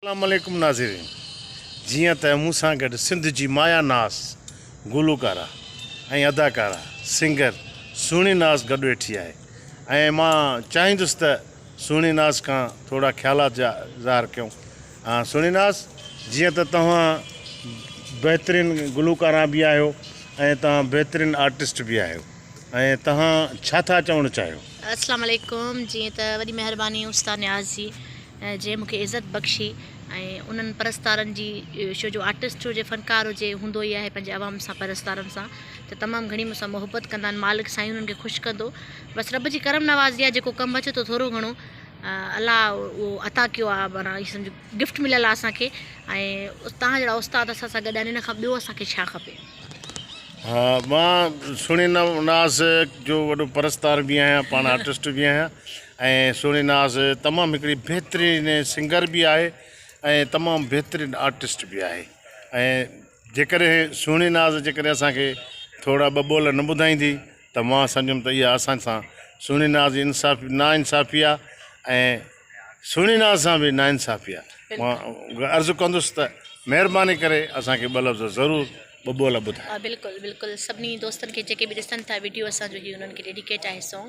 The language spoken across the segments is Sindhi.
اسلام عليڪم ناظرين جيئن ته مون سان گڏ سنڌ جي مايا ناز گلوڪارا ۽ اداڪارا سنگر سهڻي ناز گڏ ويٺي آهي ۽ مان چاهيندس ته سهڻي ناز کان ٿورا خيالات جا اظهار ڪيون سهڻي ناز جيئن ته توهان بهترين گلوڪارا به آهيو ۽ توهان بهترين آرٽسٽ به آهيو ۽ توهان ڇا ٿا چوڻ چاهيو. اسلام عليڪم جيئن ته وڏي مهرباني استاد نياز جي. جنهن مون کي عزت بخشي ۽ انهن پرستارن جي شو جو آرٽسٽ هجي فنڪار هجي هوندو ئي آهي پنهنجي عوام سان پرستارن سان ته تمام گهڻي مون سان محبت ڪندا آهن مالڪ سائين انهن کي خوش ڪندو بس رب جي ڪرم نوازي آهي جيڪو ڪم اچي ٿو ٿورو گهڻو الله اهو عطا ڪيو آهي معنيٰ ايئن سمجهه گفٽ مليل آهي اسان کي ۽ تهان جهڙا استاد اسان سان گڏ آهن ان کان ٻيو اسان کي ڇا کپي ها مان سڻي ناز جو وڏو پرستار به آهيان پاڻ آرٽسٽ به آهيان ۽ سهڻي ناز تمام هڪڙي بهترين سنگر به آهي ۽ تمام بهترين آرٽسٽ به آهي ۽ جيڪڏهن سهڻي ناز جيڪڏهن اسان کي ٿورا ٻه ٻول نه ٻڌائيندي ته مان سمجهندم ته اها اسان سان سهڻي ناز جي انصاف نا انصافي آهي ۽ سهڻي ناز سان به نا انصافي آهي مان عرض ڪندس ته مهرباني ڪري اسان کي ٻه لفظ ضرور ٻه ٻول ٻڌائي بلڪل بلڪل سڀني دوستن کي جيڪي به ڏسن ٿا وڊيو اسان جو هي انهن کي ڊيڊيڪيٽ آهي سانگ.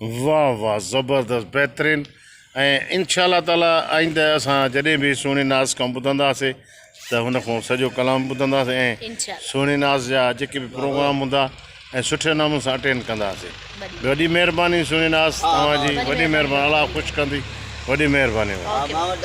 واه واه زبردست بهترين ۽ انشاء الله تعالٰي آئنده اسان جڏهن به سهڻي ناز کان ٻڌنداسي ته هن کان سڄو ڪلام ٻڌنداسي ۽ انشاء الله. سهڻي ناز جا جيڪي به پروگرام هوندا ۽ سٺي نموني سان اٽينڊ ڪنداسي بلي. وڏي مهرباني سهڻي ناز ها، ها، توهان جي وڏي وڏي مهرباني مهرباني. الله خوش ڪندي وڏي مهرباني آ، مان وٽ